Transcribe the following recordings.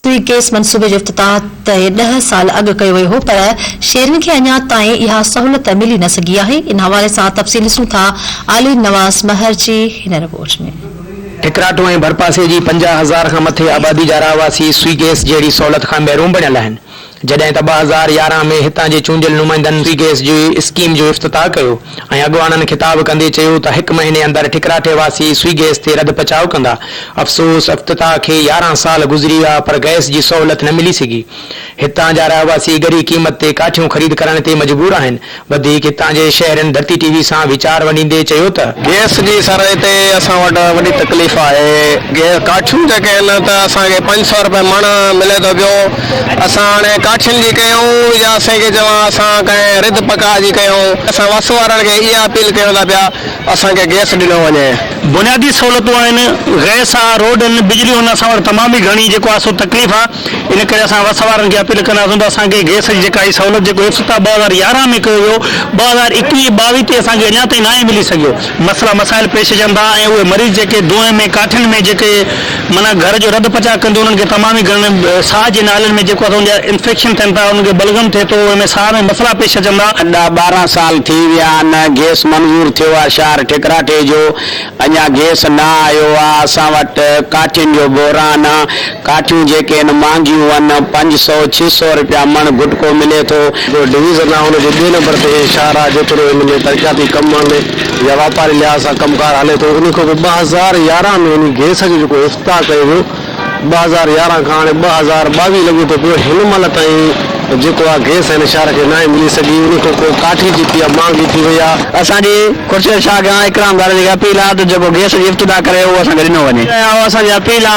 توهين ڪيس منصوبي جو افتتاح ته ڏهه سال اڳ ڪيو ويو هو پر شهرين کي اڃا تائين اها سهولت ملي نه سگهي آهي ان حوالي سان تفصيل ڏسون ٿا عالي نواز مهر جي هن رپورٽ ۾. ٺڪراٺو ۽ ڀرپاسي جي پنجاهه هزار کان مٿي آبادي جا رهواسي سوئي گئس جهڙي سهولت کان محروم بڻيل آهن جڏهن ته ٻه هزار يارهن ۾ هتان جي چونڊيل نمائندن فري گئس جي اسڪيم جو افتتاح ڪيو ۽ اڳواڻن خطاب ڪندي چيو ته هڪ مهيني اندر ٺڪراٺي واسي سوئي گئس تي رد پچاء ڪندا افسوس افتتاح کي يارهن سال گذري ويا پر گئس جي سهولت نه ملي سگهي هتان جا رهواسي ڳري قيمت تي ڪاٺيون خريد ڪرڻ تي مجبور آهن وڌيڪ هتان جي شهرين ڌرتي ٽي وي سان ويچار ونڊيندي چيو ته. گئس جي سرائي تي اسان وٽ وڏي تڪليف آهي، ڪاٺيون جيڪي آهن ته اسان کي پنج سئو رپئي مڻ ملي ٿو پيو، اسان هاڻي ڪاٺين جي ڪيون يا سين کي چوان اسان ڪنهن رڌ پڪاء جي ڪيون، اسان وس وارن کي اها اپيل ڪيون ٿا پيا اسان کي گئس ڏنو وڃي. بنيادي سهولتون آهن، گئس آ، روڊن، بجلي هن اسان وٽ تمام ئي گهڻي جيڪو آ سو تڪليف آ، ان ڪري اسان وس وارن کي اپيل ڪنداسون ته اسان کي گئس جي جيڪا هي سهولت جيڪو افتتاح ٻه هزار يارهن ۾ ڪيو ويو، ٻه هزار ايڪويهه ٻاويهه تي اسان کي اڃا تائين ناهي ملي سگهيو، مسئلا مسائل پيش اچن ٿا ۽ اهي مريض جيڪي دونهين ۾ ڪاٺين ۾ جيڪي. معنيٰ گهر جو رڌ پچاء ڪندي انهن کي تمام ئي گهڻن ساهه جي نالين ۾ جيڪو اسان جا انفيڪشن ٿين ٿا انهن کي بلغم ٿئي ٿو انهن ۾ ساهه ۾ مسئلا پيش اچن ٿا. ادا ٻارهن سال ٿي ويا آهن گيس منظور ٿيو آهي شهر ٺڪراٺي جو اڃا گيس نه آيو آهي اسان وٽ ڪاٺين جو بحران آهي ڪاٺيون جيڪي آهن مهانگيون آهن پنج سئو ڇهه سئو رپيا مڻ گٽڪو ملي ٿو. ڊويزن آهي ان جي ٻئي نمبر تي هي شهر آهي جيتوڻيڪ هن ۾ ترقياتي ڪم آهن. يا واپاري لحاظ سان ڪم ڪار هلي ٿو انهي کان پوء ٻه هزار يارهن ۾ انهي گئس جو جيڪو افتتاح ڪيو ويو ٻه هزار يارهن کان هاڻي ٻه هزار ٻاويهه لڳي ٿو پيو هن مهل تائين جيڪو آ گئس هن شهر کي ناهي ملي سگهي انهي کان پوء ڪاٺي جيڪي آ مهانگي ٿي وئي آ. اسان جي خورشيد شاهه کان اڪرام ڌاريجي کي اپيل آ ته جيڪو گئس جي افتتاح ڪري اهو اسان کي ڏنو وڃي. اها اسان جي اپيل آ.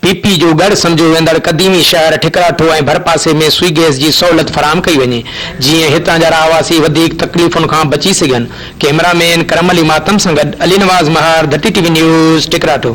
پي پي جو ڳڙهه سمجهيو ويندڙ قديمي شهر ٺڪراٺو ۽ ڀرپاسي ۾ سوئي گئس جي سهولت فراهم ڪئي وڃي جيئن هتان جا رهواسي وڌيڪ تڪليفن کان بچي سگهن ڪئميرا مين ڪرم علي ماتم سان گڏ علي نواز مهار ڌٽي ٽي وي نيوز ٺڪراٺو.